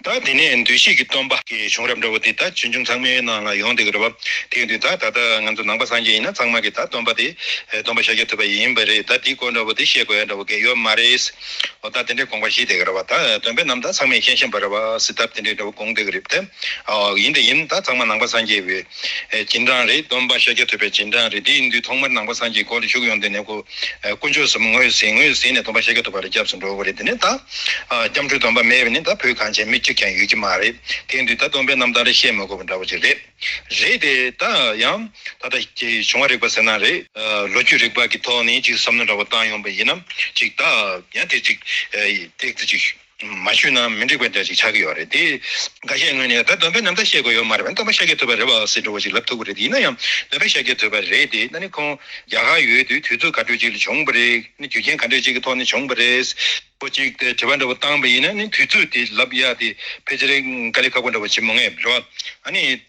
ད་དེ་ནས་འདུས་བྱས་ཀྱི་སྟོན་པ། གི་བྱུང་རབས་འདྲ་བོ་དེ་ད་ཕྱི་འབྱུང་ཚང་མའི་ནང་ལ་ཡོང་སྡོད་ཀྱི་རེད་བབ། དེའི་དུས་ད་ད་ལྟ་ང་ཚོ་ནང་པ་སངས་རྒྱས་ཡིན་ན་ཚང་མ་གི་ད་སྟོན་པ་དེ་སྟོན་པ་ཤཱཀྱ་ཐུབ་པ་ཡིན་པ་རེད་ད་དེའི་སྐོར་འདྲ་བོ་དེ་བཤད་དགོས་ཡ་འདྲ་བོ་གི་ཡོད་མ་རེད། འོ་ད་དེ་འདྲའི་དགོངས་པ་བཞེས་སྡད་ཀྱི་རེད་བ་ད་སྟོན་པའི་རྣམ་ཐར་ཚང་མའི་མཁན་ཤེས་པ་རེད་བ་སི་ད་དེ་འདྲའི་འདྲ་བོ་དགོངས་སྡད་ཀྱི་རེད་བདེ། ཨོ་ཡིན་ད་ཡིན་ད་ཚང་མ་ནང་པ་སངས་རྒྱས་བས། སྦྱིན་གྲངས་རེ་བསྡོམས་པ་ཤཱཀྱ་ཐུབ་པའི་སྦྱིན་གྲངས་རེ་དེའི་འདུས་ཐོག་མར་ནང་པ་སངས་རྒྱས་སྐོར་བཞུགས་ཡོང་དེ་ནས་དཀོན་མཆོག་གསུམ་ངོས་ཟིན་ངོས་ཟིན་ནས་སྡོམ་པ་ཤཱཀྱ་ཐུབ་པ་རེ་སྐྱབས་སུ་འགྲོ་དགོས་རེད་དེ་ནས་ད་སྐྱབས་འགྲོའི་སྡོམ་པ་མེད་པས་ནི་ད་བོད་གངས་ཅན་མི་གཅིག་ཀྱང་ཡོད་ཀྱི་མ་རེད་དེའི་འདུས་ད་སྡོམ་པའི་རྣམ་ཐར་རེ་བཤད་མ་དགོས་པ་འདྲ་བོ་ཅིག་རེད། རེད་དེ་ད་ཡང་ད་ལྟ་བྱུང་བ་རིག་པ་ཟེར་ན་རེད། ལོ་རྒྱུས་རིག་པ་གི་ཐོག་ནས་ཅིག་བསམ་མནོ་འདྲ་བོ་བཏང་ཡོང་བ་ཡིན་ན་ཅིག་ད་ཡང་དེ་ཅིག་ཐེག་ཚེ་ཅིག། མ་ཞུས་ན་མི་འགྲིག་པ་འདྲ་ཞིག་ཆགས་ཀྱི་ཡོད་རེད་དེ། འགའ་ཤས་ངོས་ནས་ད་འདོན་སྤེལ་ནམ་ད་བཤད་དགོས་ཡོད་མ་རེད་བ་འདོན་པ་ཤ་ཀྱེ་ཐུབ་པ་རེད་བ་ཟེར་འགྲོ་བ་ཞིག་ལབ་ཐུབ་ཀྱི་རེད་དེ་ཡིན་ན་ཡང་འདོན་པ་ཤ་ཀྱེ་ཐུབ་པ་རེད་དེ་ན་ནི་ཁོང་རྒྱ་གར་ཡོད་དུས་དུས་ཚོད་ག་དུས་ཅིག་ལ་བྱུང་བ་རེད་ནི་རྒྱུ་རྐྱེན་ག་འདྲ་ཅིག་གི་ཐོག་ནས་བྱུང་བ་རེད། པོ་ཅིག་དེ་དྲི་བ་འདྲ་བོ་བཏང་བ་ཡིན་ན་ནི་དུས་ཚོད་དེ་ལབ་ཡག་དེ་ཕལ་ཆེར་འགའ་ལས་ཁག་པོ་འདྲ་བོ་བྱེད་མ་ངེས་རེད་བ་ཨ་ནི།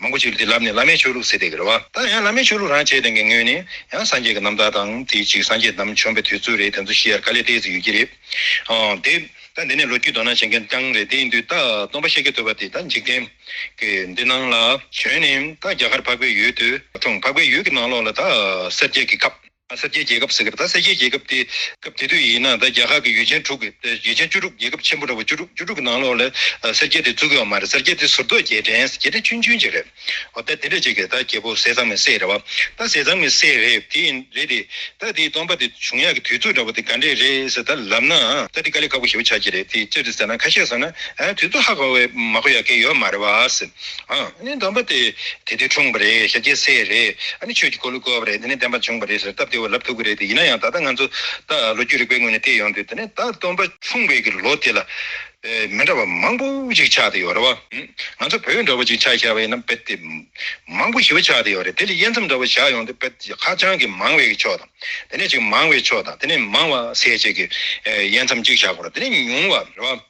མང་པོ་ཞིག་ལ་དེ་ལབ་ནས་བླ་མའི་ཆོས་ལུགས་ཟེར་བསྡད་ཀྱི་རེད་བ། ད་ཡང་བླ་མའི་ཆོས་ལུགས་རང་བྱས་དོན་གྱི་དངོས་ནི། ཡང་སངས་རྒྱས་ཀྱི་རྣམ་ཐར་དང། དེའི་གཅིག་སངས་རྒྱས་དམ་བྱོན་པའི་དུས་ཚོད་རེད་དེ་ཚོ་ཤི་ཡར་དཀའ་ལས་སྤྲད་ཟིག་ཡོད་ཀྱི་རེད། དེ། ད་འདི་ནས་ལོ་རྒྱུས་དོ་སྣང་བྱེད་མཁན་རྐྱང་རེད་དེ་འདུས། ད་སྟོང་པ་ཤེལ་གྱི་ཐོད་པ་དེ་ད་འཇིག་རྟེན། གི་འདི་སྣང་ལ། བྱོན་ནས་ད་རྒྱ་གར་འཕགས་པའི་ཡུལ་དུ། འཁྲུངས། འཕགས་པའི་ཡུལ་གྱི་ནང་ལོགས་ལ་ད། སེར་སྐྱའི་གི་ཁབ། གསར་བརྗེའི་རྒྱལ་ཁབ་ཟེར་གི་རེད་ད་གསལ་བརྗེའི་རྒྱལ་ཁབ་དེ་སྐབས་དེ་དུས་ཡིན་ན་ད་རྒྱ་ཁག་གི་ཡུལ་ཆེན་དྲུག་གི་ཡུལ་ཆེན་བཅུ་དྲུག་རྒྱལ་ཁབ་ཆེན་པོ་འདྲ་བོ་བཅུ་དྲུག་བཅུ་དྲུག་གི་ནང་ལོགས་ལ་གསར་བརྗེ་དེ་བཙུགས་ཡོད་མ་རེད་གསར་བརྗེ་དེ་ཟུར་གཏོགས་རྒྱལ་ཕྲན་རྒྱལ་ཕྲན་ཆུང་ཆུང་ཅིག་རེད་འོ་ད་དེ་འདྲ་ཅིག་རེད་ད་རྒྱལ་པོ་ཟས་གཙང་མའི་སྲས་རེད་བ་ད་ཟས་གཙང་མའི་སྲས་རེད་དེ་ཡིན་རེད་དེ་ད་དེའི་སྟོང་པ་དེ་བྱུང་ཡག་གི་དུས་ཚོད་འདྲ་བོ་དེ་ག་འདྲས་རེད་ཟེར་ད་ལབ་ན་ད་དེ་དཀའ་ལས་ཁག་པོ་ཞེ་པོ་ཆགས་ཀྱི་རེད་དེ་ཅི་རེད་ཟེར་ན་ཁ་ཤས་ཟེར་ན་དུས་ཚོད་ཧ་གོ་བས་མ་གོ་ཡག་གི་ཡོད་མ་རེད་བ། ནི་འདོན་པ་དེ་དེ་དུས་འཁྲུངས་པ་རེད་ཞབས་རྗེས་སེ་རེད་ནི་ཆོས་ཀྱི་འཁོར་ལོ་བསྐོར་བ་རེད་དེ་ནི་བསྟན་པ་འབྱུང་བ་རེད་ཟེར་སྟབས་བདེ་བ་ལབ་ཐུབ་ཀྱི་རེད་དེ་ཡིན་ན་ཡང་ད་ལྟ་ང་ཚོ་ལོ་རྒྱུས་རིག་པའི་ངོས་ནས་བལྟས་ཡོང་དུས་དེ་ནི་ད་སྟོན་པ་འཁྲུངས་བའི་གི་ལོ་དེ་ལ་མི་འདྲ་བ་མང་པོ་ཞིག་ཆགས་ཏེ་ཡོད་རེད་བ། ང་ཚོ་བོད་འདྲ་བོ་ཞིག་ཆགས་ཤར་བ་ཡིན་ན་དཔེ་དེབ་མང་པོ་ཞིབ་ཆགས་ཏེ་ཡོད་རེད་དེ་ལས་དབྱེ་མཚམས་འདྲ་བོ་བཞག་ཡོང་དུས་དཔེ་དེབ་ཧ་ཅང་གི་མང་བའི་གི་ཕྱོགས་དང་དེ་ནས་ཅིག་མང་བའི་ཕྱོགས་དང་དེ་ནས་མང་བ་ཟད་བྱེད་གི་དབྱེ་མཚམས་གཅིག་བཞག་དགོས་རེད་དེ་ནས་ཉུང་བ་རེད་བ།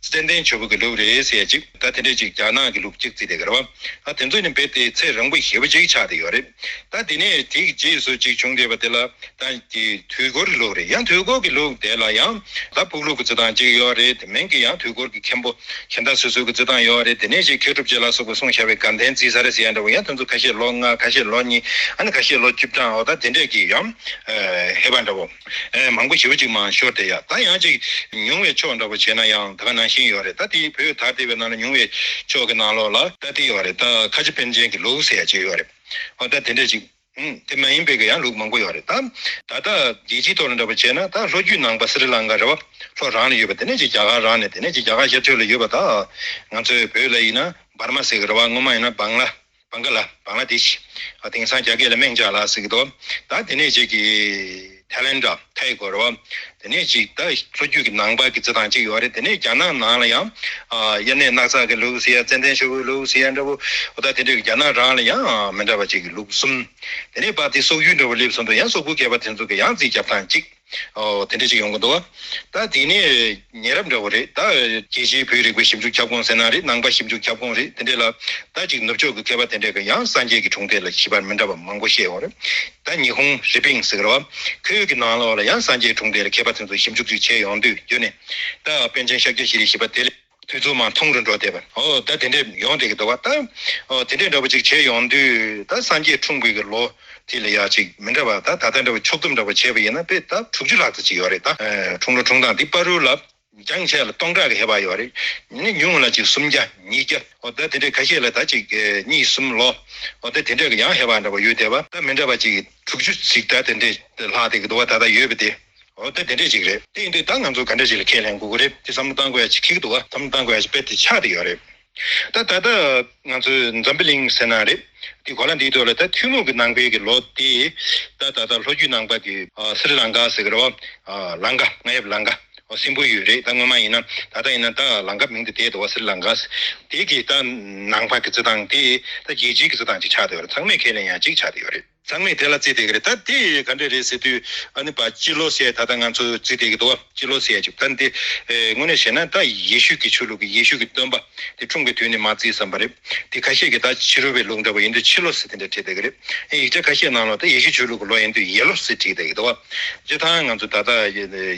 ཙན་དན་ཆོས་འབུལ་གྱི་ལུགས་རེད་ཟེར་ཅིག་ད་དེ་འདྲས་ཅིག་རྒྱ་ནག་གི་ལུགས་གཅིག་རྩིས་དེ་གར་བ་ཨ་དེ་ཚོ་ནི་འབེབས་ཏེ་ཚེ་རང་བུ་ཞེ་བུ་གཅིག་ཆགས་ཏེ་ཡོད་རེད་ད་དེ་ནས་དེ་གི་རྗེས་སུ་གཅིག་བྱུང་འདས་པ་དེ་ལ་ད་དེ་དུས་འཁོར་གྱི་ལུགས་རེད་ཡང་དུས་འཁོར་གྱི་ལུགས་དེ་ལ་ཡང་ད་ཕུག་ལུགས་ཀྱི་རྩི་སྟངས་གཅིག་ཡོད་རེད་དེ་མིན་གྱི་ཡང་དུས་འཁོར་གྱི་མཁན་པོ་གྱེན་ད་སོ་སོའི་གྱི་རྩི་སྟངས་ཡོད་རེད་དེ་ནས་ཅིག་མཁས་གྲུབ་རྗེ་ལ་སོགས་པའི་གསུང་བྱ་བའི་དགའ་ལྡན་རྩིས་ས་རེད་ཟེར་ཡ་འདྲ་བོ་ཡང་དེ་ཚོ་ཁ་ཤས་ལོ་ལྔ་ཁ་ཤས་ལོ་གཉིས་ཨ་ནི་ཁ་ཤས་ལོ་བཅུ་བགྲང་འོ་ད་དེ་འདྲས་ཀྱི་ཡང་ཧེ་བག་འདྲ་བོ། མང་པོ་ཞིབ་གཅིག་མ་ཤོར་དེ་ཡག་ད་ཡང་ཅིག་ཉུང་བའི་ཕྱོགས་འདྲ་པོ་བྱས་ན་ཡང་དག་ནང་བཞིན་ཡོད་རེད་ད་དེའི་བོད་དར་དེ་བས་ནང་ལ་ཉུང་བའི་ཕྱོགས་ཀྱི་ནང་ལོགས་ལ། ད་དེ་ཡོད་རེད་ད་ཁ་ཆེ་པན་ཆེན་གྱི་ལུགས་ཟེར་ཡག་ཅིག་ཡོད་རེད་ཨོ་ད་དེ་འདྲ་ཅིག་དེ་མ་ཡིན་པའི་གྱི་ཡང་ལུགས་མང་པོ་ཡོད་རེད་ད། ད་ལྟ་རྒྱལ་སྤྱིའི་ཐོག་ལ་འདྲ་པོ་བྱས་ན་ད་ལྷོ་རྒྱུད་ནང་པ་སི་རི་ལང་ཀ་རེད་བ་ལྷོ་རང་ལ་ཡོད་པ་དེ་ནས་ཅིག་རྒྱ་གར་རང་ནས་དེ་ནས་ཅིག་རྒྱ་གར་ཤར་ཕྱོགས་ལ་ཡོད་པ་ད་ང་ཚོའི་བོད་ལ་ཡིན་ན་འབར་མ་ཟེར་གྱི་རེད་བ་སྔོན་མ་ཡིན་ན་སྦང་ལ། བང་ག་ལ་བང་ལ་དེ་ཞིག། དེང་སང་རྒྱ་སྐད་ལ་སྨྲེང་བྱ་ལ་ཟེར་གི་འདུག་ད་དེ་ནས་ཅིག་གི། Thailanda། Thai། གོ་རོ། དེ་ནས་ཅིག་ད་ལྷོ་རྒྱུད་ཀྱི་ནང་པ་ཀྱི་རྩི་ཐང་ཅིག་ཡོད་རེད་དེ་ནས་རྒྱ་ནག་ནང་ལ་ཡང། དབྱར་གནས་སྣག་ཚ་གི་ལུགས་ཟེར་ཡ་ཙན་དན་ཤོག་བུའི་ལུགས་ཟེར་ཡ་འདྲ་བོ། འོ་ད་དེ་འདྲ་གི་རྒྱ་ནག་རང་ལ་ཡང་མི་འདྲ་བ་ཅིག་གི་ལུགས་གསུམ། དེ་ནས་པ་དེ་སོག་ཡུལ་འདྲ་བོ་སླེབས་སོང་འདུག་ཡང་སོག་པོའི་སྐད་པ་དེ་ཚོ་གི་ཡང་རྩིས་རྒྱབ་སྟངས་ཅིག། འོ། དེ་འདྲ་ཅིག་ཡོང་གི་འདུག་ད། དེ་ནི་ཉེ་རབས་འདྲ་བོ་རེད་ད། རྒྱལ་སྤྱིའི་བོད་རིག་པའི་ཞིབ་འཇུག་ཁྱབ་ཁོངས་ཟེར་ན་རེད་ནང་པ་ཞིབ་འཇུག་ཁྱབ་ཁོངས་རེད་དེ་འདྲས་ལ། ད་ཅིག་ནུབ་ཕྱོགས་ཀྱི་མཁས་པ་དེ་འདྲས་ཀྱི་ཡང་སངས་རྒྱས་ཀྱི་གྲོང་སྡེ་ལ་ཞིབ་པར་མི་འདྲ་བ་མང་པོ་བཤད་ཡོང་རེད། ད་ཉི་ཧོང་རི་པིང་ཟེར་བ། ཁོའི་ཡུལ་གྱི་ནང་ལོགས་ལ་ཡང་སངས་རྒྱས་གྲོང་སྡེ་ལ་མཁས་པ་དེ་ཚོ་ཞིབ་འཇུག་ཅིག་བྱས་ཡོང་དུས་རྒྱུ་ནི། ད་པན་ཆེན་ཤཱཀྱ་ཞེས་རིགས་ཞིབ་པ་དེ་ལས། དུས་རྫུན་མ་འཐུང་རུ་འགྲོ་བསྡད་པ། ཨོ་ད་དེ་འདྲས་ཡོང་བསྡད་ཀྱི་འདུག་བ་ད། ཨོ་དེ་འདྲས་འདྲ་བོ་ཅིག་བྱས་ཡོང་དུས་ད་སངས་རྒྱས་འཁྲུངས་དགོས་ཀྱི་ལོ་དེ་ལ་ཡག་ཅིག་མི་འདྲ་བ་ད་ད་ལྟ་འདྲ་བོ་ཕྱོགས་བསྡོམས་འདྲ་བོ་བྱས་པ་ཡིན་ན་དཔེ་ད་དྲུག་ཅུ་ལྷག་ཙམ་ཅིག་ཡོད་རེད་ད། འཁྲུངས་ལོ་འཁྲུངས་སྟངས་འདི་པར་རུ་ལ་འགྱངས་ཆད་ལ་སྟོང་ཕྲག་གི་ཧེ་བག་ཡོད་རེད། ནི་ཉུང་ངུ་ལ་ཅིག་སུམ་བརྒྱ་ཉིས་བརྒྱ་ཨོ་ད་དེ་འདྲས་ཁ་ཤས་ལ་ད་ཅིག་གཉིས་གསུམ་ལོ་ཨོ་ད་དེ་འདྲས་ཀྱི་ཡང་ཧེ་བག་འདྲ་བོ་ཡོད་བསྡད་བ་ད་མི་འདྲ་བ་ཅིག་དྲུག་ཅུ་ཅིག་ད་དེ་འདྲས་ལྷག་བསྡད་ཀྱི་འདུག་བ་ད་ད་ཡོད་བསྡད། འོ་དེ་དེ་འདྲས་ཅིག་རེད་དེ་ཡིན་དུས་ད་ང་ཚོ་ག་འདྲས་ཅིག་ལ་ཁས་ལེན་དགོས་གི་རེད་དེ་བསམ་བློ་བཏང་དགོས་ཡ་ཅིག་ཁིག་འདུག་བ་བསམ་བློ་བཏང་དགོས་ཡ་ཅིག་དཔེར་དེ་ཆགས་དེ་ཡོད་རེད་ད་ད་ལྟ་ང་ཚོས་འཛམ་བུ་གླིང་ཟེར་ན་རེད་དེ་གོ་ལ་འདིའི་ཐོག་ལ་ད་ཐུན་མོང་གི་ནང་པའི་གི་ལོ་དེ་ད་ད་ད་ལྷོ་རྒྱུད་ནང་པ་དེ་སི་རི་ལང་ཀཱ་ཟེར་གི་རེད་བ་ལང་ཀ་ང་ཡབ་ལང་ཀ་བ་སིམ་པོ་ཡོད་རེད་ད་སྔོན་མ་ཡིན་ན་ད་ལྟ་ཡིན་ན་ད་ལང་ཀ་མིང་དེ་དེད་འདུག་བ་སི་རི་ལང་ཀཱ་དེ་གི་ད་ནང་པ་གི་རྩི་ཐང་དེ་ད་རྒྱལ་སྤྱིའི་གི་རྩི་ཐང་ཅིག་ཆགས་དེ་ཡོད་རེད་ཚང་མས་ཁས་ལེན་ཡ་ཅིག་ཆགས་དེ་ཡོད་རེད། ཚང་མས་དེ་ལ་རྩིས་སྟེགས་རེད་ད་དེ་ག་འདྲ་རེད་ཟེར་དུས་ཨ་ནི་བ་ཅི་ལོ་སྲས་ད་ལྟ་ང་ཚོ་རྩིས་སྟེགས་ཀྱི་འདུག་བ་ཅི་ལོ་སྲས་ཅིག་ད་འདི་དངོས་གནས་བཤད་ན་ད་ཡེ་ཤུ་ཀྱི་ཆོས་ལུགས་ཀྱི་ཡེ་ཤུ་ཀྱི་སྟོན་པ་དེ་འཁྲུངས་པའི་དུས་ནས་མ་རྩིས་བསམ་པ་རེད་དེ་ཁ་ཤས་ཀྱི་ད་ཕྱི་རོལ་བའི་ལུགས་འདྲ་བ་ཡིན་དུས་ཕྱི་ལོ་སྲས་དེ་འདྲ་བྲིས་སྟེགས་རེད་ཡང་ཡིག་ཆ་ཁ་ཤས་ནང་ལོ་ད་ཡེ་ཤུ་ཆོས་ལུགས་ཀྱི་ལོ་ཡིན་དུས་ཡེ་ལོ་སྲས་བྲིས་སྟེགས་རེད་ད་བ་ཅི་ད་ང་ཚོ་ད་ལྟ་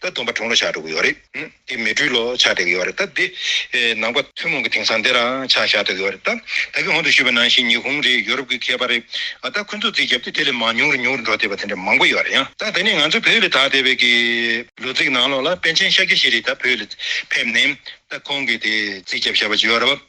ད་སྡོམ་པ་དྲུང་ལོ་ཞག་དྲུག་ཡོད་རེད། དེ་མི་དྲུག་ལོ་ཆགས་བསྡད་ཀྱི་ཡོད་རེད་ད། དེ་ནང་པ་ཐུན་མོང་གི་དེང་སང་དེ་རང་ཆགས་བཞག་བསྡད་ཀྱི་ཡོད་རེད་ད། ད་གི་ཧོན་དུ་ཞུས་པ་ནང་བཞིན་ཉི་ཧོང་རེད་ཡོ་རོབ་ཀྱི་མཁས་པ་རེད་ད་ཁོ་ཚོ་རྩིས་བརྒྱབ་སྟེ་དེ་ལས་མང་ཉུང་རེ་ཉུང་རེ་འགྲོ་བསྡད་པ་དེ་འདྲ་མང་པོ་ཡོད་རེད་ཡང་ད་དེ་ནས་ང་ཚོ་བོད་ལ་དྭགས་བསྡད་པའི་གི། ལོ་ཚིགས་ནང་ལོགས་ལ་པན་ཆེན་ཤཱཀྱ་ཞེས་རེད་ད་བོད་ལ་ཕེབས་ནས་ད་ཁོང་གིས་དེ་རྩིས་བརྒྱབ་བཞག་པ་ཅིག་ཡོད་རེད་བ།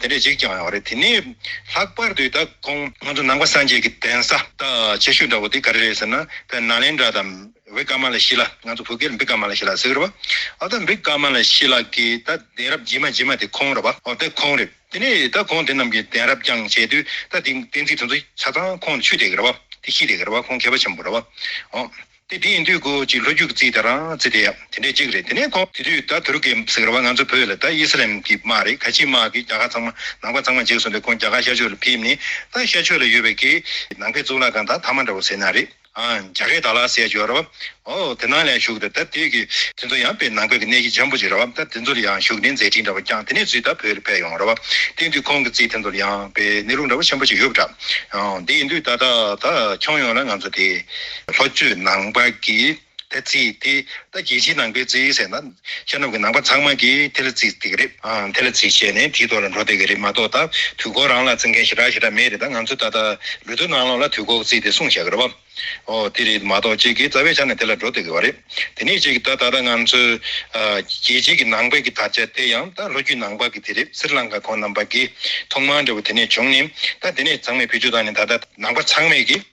དེ་འདྲས་ཅིག་ཀྱང་ཡོད་རེད་དེ་ནས་ལྷག་པར་དུ་ད་ཁོང་ང་ཚོ་ནང་པ་སངས་རྒྱས་ཀྱི་གདན་ས་ད་ཆེ་ཤོས་འདྲ་བོ་དེ་ག་རེ་རེད་ཟེར་ན་བན་ན་ལེན་དྲ་དམ་བི་ཀ་མ་ལ་ཤི་ལ་ང་ཚོ་བོད་སྐད་ལ་འབི་ཀ་མ་ལ་ཤི་ལ་ཟེར་གི་རེད་པ་ཨོ་ད་འབི་ཀ་མ་ལ་ཤི་ལ་གི་ད་གདན་རབས་རྗེས་མ་རྗེས་མ་དེ་ཁོང་རེད་པ་ཨོ་དེ་ཁོང་རེད་དེ་ནས་ད་ཁོང་དེ་རྣམས་ཀྱི་གདན་རབས་རྐྱང་བྱས་དུས་ད་དེ་གཏན་ཚིགས་དེ་ཚོ་ཆ་ཚང་ཁོང་ལ་ཆུད་བསྡད་གི་རེད་པ་དེ་ཤི་བསྡད་གི་རེད་པ་ཁོང་མཁས་པ་ཆེན་པོ་རེད་པ་ཨོ། དེ་དེ་ཡིན་དུས་ཀོ་ཅིག་ལྷོ་རྒྱུད་ཀྱི་རྩིས་དེ་རང་རྩིས་དེ་ཡང་དེ་འདྲའི་གཅིག་རེད་དེ་ནས་ཁོང་དེ་དུས་ད་ཐུར་ཀེ་ཟེར་བ་ང་ཚོ་བོད་ལ་ད་ཨི་སི་རལ་གྱི་དམག་རེད་ཁ་ཆེའི་དམག་གིས་རྒྱ་གར་ཚང་མ་ནང་པ་ཚང་མ་འཇིགས་སོང་སྟེ་ཁོང་རྒྱ་གར་ཤར་ཕྱོགས་ལ་ཕེབས་ནས་ད་ཤར་ཕྱོགས་ལ་ཡོད་པའི་ཀེ་ནང་པའི་གཙུག་ལག་ཁང་དང་ཐ་མ་འདྲ་བོ་ཟེར་ན་རེད་ཨ་རྒྱ་གར་དར་ལག་སེ་ཇོ་ར་བ་འོ་དེ་ནང་ལ་ཡང་བཞུགས་ཏེ་ད་དེ་ཀེ་དེ་ཚོ་ཡང་པེ་ནང་པའི་གི་གནས་གཞི་འཇམ་པོ་ཅིག་ར་བ་ད་དེ་ཚོ་ལ་ཡང་བཞུགས་ནས་མཛད་འཕྲིན་འདྲ་བོ་བསྐྱངས་དེ་ནས་ཚུལ་ད་བོད་ལ་ཕེབས་ཡོང་ར་བ་དེ་དུས་ཁོང་གི་རྩིས་དེ་ཚོ་ལ་ཡང་པེ་གནས་ལུགས་འདྲ་བོ་ཆེན་པོ་ཅིག་ཡོད་པ་འདྲ་འོ་དེ་ཡིན་དུས་ད་ད་ད་ཁྱོང་ཡོང་ལ་ང་ཚོ་དེ། ལྷོ་བཅུད་ནང་པ་ཀི་ཏའི་ཙི་ཏི་ད་རྒྱལ་སྤྱིའི་ནང་པའི་ཙི་ཟེར་ན། ཤར་ནུབ་ཀྱི་ནང་པ་ཚང་མ་ཀི་ཏའི་ལ་ཙི་བསྡད་གི་རེད། ཏའི་ལ་ཙི་བྱས་ནས་དེའི་ཐོག་ལ་འགྲོ་བསྡད་གི་རེད་མ་གཏོགས་ད་དུས་འཁོར་རང་ལ་ཙི་མཁན་ཞེ་དྲག་ཞེ་དྲག་མེད་རེད་ད་ང་ཚོས་ད་ལྟ་ལུས་སྟོད་ནང་ལོགས་ལ་དུས་འཁོར་ཙི་དེ་སྲུང་བྱ་གི་རེད་བ། ཨོ་དེ་རེད་མ་གཏོགས་ཁྱེད་ཀྱིས་རྩ་བའི་ཆ་ནས་དེ་ལ་འགྲོ་བསྡད་གི་བ་རེད། དེ་ནས་ཁྱེད་ཀྱིས་ད་ད་ལྟ་ང་ཚོས་རྒྱལ་སྤྱིའི་ཀྱི་ནང་པའི་ཀྱི་དར་ཆ་བསྟན་ཡང་ད་ལྷོ་བཅུད་ནང་པ་ཀི་ཏའི་རེད་སི་རི་ལང་ཀ་ཁོང་རྣམས་པ་ཀི་ཐོག་མར་འདྲ་བོ་དེ་ནས་བྱུང་ནས་ད་དེ་ནས་ཚང་མས་བེད་སྤྱོད་བཏང་ནས་ད་ད་ནང་པ་ཚང་མས་ཀི།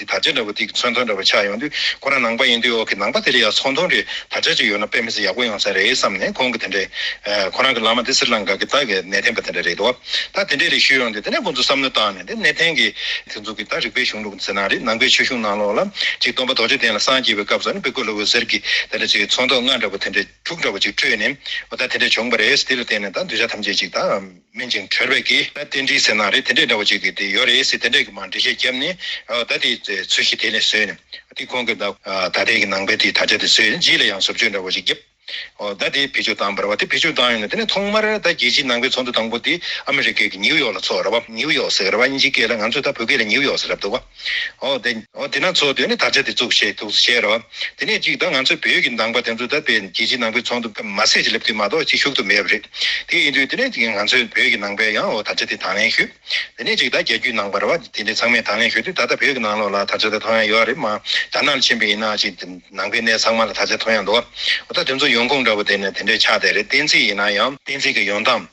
དེ་དར་ཆ་འདྲ་པོ་དེ་གི་ཚོན་མཐོ་འདྲ་པོ་ཆགས་ཡོང་དུས་ཁོ་རང་ནང་པ་ཡིན་དུས་འོག་གི་ནང་པ་དེ་ལ་ཡང་ཚོགས་མཐོ་འདྲའི་དར་ཆ་ཅིག་ཡོད་ན་དཔེ་མི་ཚེ་ཡག་པོ་ཡོང་ས་རེད་བསམ་ནས་ཁོང་གི་དེ་འདྲའི། ཁོ་རང་གི་བླ་མ་དེ་སིར་ལང་ག་གི་སྟག་གི་གནས་འཐེན་པ་དེ་འདྲ་རེད་འདུག་ད་དེ་འདྲའི་རིགས་ཞུས་ཡོང་དུས་དེ་ནས་ཁོང་ཚོ་བསམ་བློ་བཏང་ནས་དེ་གནས་འཐེན་གི། དེ་ཚོ་གི་ད་རིག་པའི་གཞུང་ལུགས་ནི་ཚེ་ནང་རེད་ནང་པའི་ཆོས་གཞུང་ནང་ལོགས་ལ་ཅིག་སྟོན་པ་རྡོ་རྗེ་གདན་ལ་སངས་རྒྱས་པའི་སྐབས་སུ་ནི་བི་ཀོ་ལོ་བོ་ཟེར་གི་དེ་འདྲ་ཅིག་ཚོགས་མཐོ་ལྔ་འདྲ་པོ་དེ་འདྲ་དྲུག་འདྲ་པོ་ཅིག་བཀྲོས་ནས་ད་དེ་འདྲ་བྱུང་བ་རེད་དེ་ལ་བརྟེན་ནས་ད་གདུལ་བྱ་ཐམས་ཅད་ཅིག་ད། སྨིན་ཅིང་གྲོལ་བས་ཀྱི་ན་རྟེན་འབྲེལ་ཟེར་ན་རེ་དེ་འདྲས་འདྲ་བོ་ཅིག་གི་དེ་ཡོད་རེད་ཟེར་དེ་འདྲས་ཀྱི་མ་འབྲེལ་བཤད་རྒྱབ་ནས་ད་དེ་ཚུལ་བཞིན་དེ་ནས་ཟོས་ནས་དེ་གོང་གི་ད་ད་དེ་གི་ནང་པའི་དེ་ད་ཆ་དེ་ཟོས་ནས་རྗེས་ལ་ཡང་ཟུར་བཅོས་འདྲ་བོ་ཅིག་རྒྱབ་ད་དེ་བེད་སྤྱོད་བཏང་བར་བ་དེ་བེད་སྤྱོད་བཏང་ཡོང་ནས་དེ་ནས་ཐོག་མར་ད་རྒྱལ་སྤྱིའི་ནང་པའི་ཚོགས་འདུ་དང་པོ་དེ་ཨ་མི་རི་ཀའི་གི་ཉིའུ་ཡོག་ལ་ཚོགས་ར་བ་ཉིའུ་ཡོག་ཟེར་བ་ཨིན་ཇིའི་སྐད་ལ་ང་ཚོས་ད་བོད་སྐད་ལ་ཉིའུ་ཡོག་ཟེར་རབས་འདུག་བ། འོ། དེ་ན་ཚོགས་འདུའི་དར་ཆ་དེ་བཙུགས་ཞེས་ཐུགས་གསོ་བྱས་རོགས། དེ་ནས་ཅིག་ད་ང་ཚོ་བོད་ཀྱི་ནང་པ་དེ་ཚོ་ད་བལ་རྒྱལ་སྤྱིའི་ནང་པའི་ཚོགས་འདུ་མ་ཟད་ཅིག་སླེབས་དུས་མ་གཏོགས་ཅིག་ཞུགས་ཐུབ་མེད་པ་རེད། དེ་ཡིན་དུས་དེ་ནས་ཅིག་ང་ཚོའི་བོད་ཀྱི་ནང་པས་ཡང་འོ་དར་ཆ་དེ་དང་ལེན་ཞུ། དེ་ནས་ཅིག་ད་རྒྱལ་རྒྱུད་ནང་པར་བ་དེ་འདྲས་ཚང་མས་དང་ལེན་ཞུ་དུས་ད་ལྟ་བོད་ཀྱི་ནང་ལོགས་ལ་དར་ཆ་དེ་ཐོ་ཡང་ཡོད་རེད་མ་དར་ནག་ཆེན་པོ་ཡིན་ན་ཅིག་ནང་པའི་གནས་ཚང་མ་ལ་དར་ཆ་ཐོ་ཡང་འདུག་འོ་ད་དེ་ཚོ་ཡོང་ཁུངས་འདྲ་པོ་དེ་ནི་དེ་འདྲས་ཆགས་བསྡད་རེད་གཏན་ཚིགས་ཡིན་ན་ཡང། གཏན་ཚིགས་ཀྱི་ཡོང་སྟངས།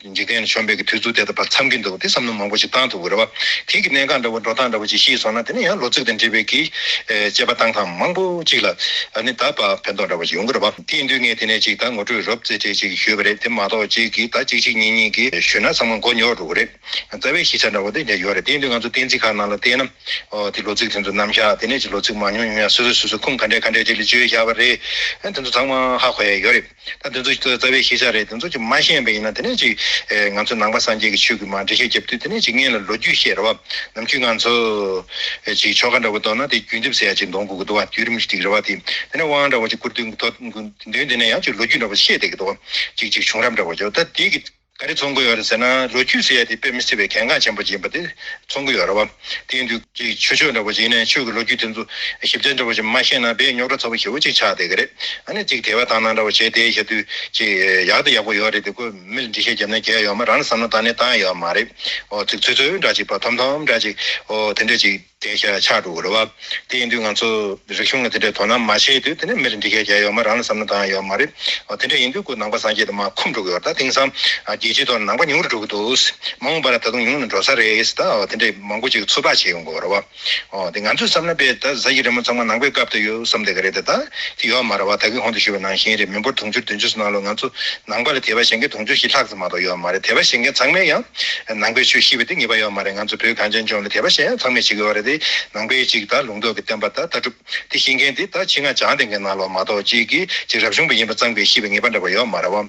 འཇིག་རྟེན་ལ་བྱོན་པའི་གི་དུས་ཚུགས་དེ་ད་བར་མཚམས་ཀྱི་འདུག་པ་དེ་བསམ་བློ་མང་པོ་ཞིག་བཏང་ཐུབ་དགོས་རེད་བ། དེ་གི་གནད་འགག་འདྲ་བོ་འགྲོ་སྟངས་འདྲ་བོ་ཅིག་ཤེས་སོང་ན་དེ་ནས་ཡང་ལོ་ཚིགས་དང་འབྲེལ་བའི་གི་དཔྱད་པ་བཏང་སྟངས་མང་པོ་ཅིག་ལ་ནི་ད་བར་ཕན་ཐོགས་འདྲ་བོ་ཞིག་ཡོང་གི་རེད་བ། དེའི་འདུས་ངས་དེ་ནས་ཅིག་ད་ངོ་སྤྲོད་རོབ་རྩེ་གྲས་ཅིག་ཞུས་པ་རེད་དེ་མ་གཏོགས་ཅིག་གི་ད་ཅིག་ཅིག་གཉིས་གཉིས་གི་ཞུས་ན་ཚང་མ་མགོ་ཉོག་འགྲོ་གི་རེད། རྩ་བའི་གཞི་ཆ་འདྲ་བོ་དེ་འདྲ་ཡོད་རེད་དེའི་འདུས་ང་ཚོ་གཏན་ཚིགས་ཁག་ནང་ལ་བལྟས་ན། དེ་ལོ་ཚིགས་དེ་ཚོ་རྣམ་བཞག་དེ་ནས་ཅིག་ལོ་ཚིགས་མང་ཉུང་ཉུང་ཡང་སོ་སོས་སོ་སོའི་ཁུངས་ག་འདྲས་ག་འདྲས་ཅིག་ལ་བཅོལ་བཞག་པ་རེད། དེ་ཚོ་ཚང་མ་ཧ་གོ་ཡས་ཡོད་རེད། ད་དེ་ཚོ་རྩ་བའི་ཤེས་བྱ་རེད་དེ་ཚོ་ཅིག་མ་ཤེས་པ་ཡིན་ན་དེ་ནས་ཅིག་ང་ཚོ་ནང་པ་སངས་རྒྱས་ཀྱི་ཆོས་ཀྱི་མ་འདྲེ་ཤེས་རྒྱབ་དུས་དེ་ནས་ཅིག་ངན་ལ་ལོ་རྒྱུས་བཤད་ར་བ་ནམ་ཁྱུད་ང་ཚོ་ཅིག་ཆོ་ག་འདྲ་བོ་གཏོར་ན་དེ་རྒྱུན་འདེབས་ཟེར་ཡ་ཅིག་འདོང་དགོས་ཀྱི་འདུག་བ་དུས་རིམ་ཅིག་རེ་བ་དེ་དེ་ནས་དབང་འདྲ་བོ་ཅིག་བསྐུར་དུས་མདུན་དེ་ནས་ཡང་ཅིག་ལོ་རྒྱུས་འདྲ་བོ་ཤེས་བསྡད་ཀྱི་འདུག་བ་ཅིག་ཅིག་བྱུང་རབས་འདྲ་བོ་ཅིག་ད་དེ་གི། ག་རེ་ཚོང་གི་ཡོད་རེད་ཟེར་ན་ལོ་རྒྱུས་ཟེར་ཡ་དེ་དཔེ་མི་སྲིད་པའི་གལ་འགངས་ཆེན་པོ་སྦྱིན་པ་དེ་ཚོང་གི་ཡོད་རེད་བ། དེང་དུས་ཀྱི་ཆོས་ཕྱོགས་འདྲ་པོ་སྦྱིན་ནས་ཆོས་ཀྱི་ལོ་རྒྱུས་དེ་ཚོ་ཞིབ་ཚད་འདྲ་པོ་ཞིག་མ་ཤེས་ན་བེད་རྙོག་དྲ་ཚ་པོ་ཞེ་བོ་ཅིག་ཆགས་བསྡད་ཀྱི་རེད། ཨ་ནི་ཅིག་དེ་བ་དང་ནང་འདྲ་པོ་བྱས་དེ་ཞབས་རྡུལ་ཅིག་ཡག་དང་ཡག་པོ་ཡོད་རེད་དེ་ཁོས་མི་ལ་འདྲི་བཤད་བརྒྱབ་ན་རྒྱལ་ཡོང་མ་རང་ལ་བསམ་ན་ད་ནས་ད་ཡོད་མ་རེད། ཚིག་ཚོད་ཚོད་འདྲ་ཅིག་བ་ཐོམ་ཐོམ་འདྲ་ཅིག་དེ་འདྲ་ཅིག། དེའི་ཕྱིར་ན་ཕྱག་དྲུག་རེད་བ། དེ་ཡིན་དུས་ང་ཚོ་རིག་གཞུང་ལ་དེ་འདྲའི་དོ་སྣང་མ་བྱེད་དུས་དེ་ནས་མིར་འདི་སྐད་རྒྱག་ཡོད་མ་རང་ལ་བསམ་བློ་འདང་ཡོད་མ་རེད། དེ་འདྲ་ཡིན་དུས་སྐུ་ནང་པ་སངས་རྒྱས་དེ་མ་ཁོམ་འགྲོ་གི་ཡོད་ད་དེང་སང་རྒྱལ་སྤྱིའི་ཐོག་ནས་ནང་པ་ཉུང་རུ་འགྲོ་གི་འདུག་མ་འོངས་པ་ན་ད་དུང་ཉུང་ནས་འགྲོ་ས་རེད་ད་དེ་འདྲའི་མང་པོ་ཅིག་ཚོད་དཔག་བྱེད་ཡོང་དགོས་རེད་བ། དེ་ང་ཚོས་བསམ་ན་དཔེ་ད་གཟའ་ཡི་རི་མོ་ཚང་མ་ནང་པའི་སྐབས་དང་ཡོད་བསམ་དེ་ག་རེད་ད་དེ་ཡོད་མ་རེད་བ་ད་གིན་ཧོན་དུ་བཞུར་བའི་ནང་བཞིན་རེད་མི་འབོར་དུང་ཕྱུར་བདུན་ཅུ་སོ་ནང་ལོ་ང་ཚོ་ནང་པ་ལ་དད་པ་བྱེད་མཁན་དུང་ཕྱུར་བཞི་ལྷག་ཙམ་མ་གཏོགས་ཡོད་མ་རེད་དད་པ་བྱེད་མཁན་ཚང་མས་ཡང་ནང་པའི་ཆོས་ཤེས་པ་དེ་ངེས་པ་ཡོད་མ་རེད་ང་ཚོ་བོད་གངས་ཅན་ལྗོངས་ལ་དད་པ་གཞན་ཡང་ཚང་མས་བྱེད་དགོས་པ་རེད་དེ་ནང་པའི་གཅིག་དང་ལུང་རྟོགས་ཀྱི་བསྟན་པ་དང་ལྟ་གྲུབ་དེ་ཤེས་མཁན་དེ་དང་ཕྱི་ནང་བྱང་སྡེ་འགའི་ནང་ལ་མ་གཏོགས་གཅིག་གིས་གཅིག་རབ་བྱུང་པ་ཡིན་པ་གཙང་པའི་ཤེས་པའི་ངེས་པ་འདྲ་པ་ཡོད་མ་རེད་བ།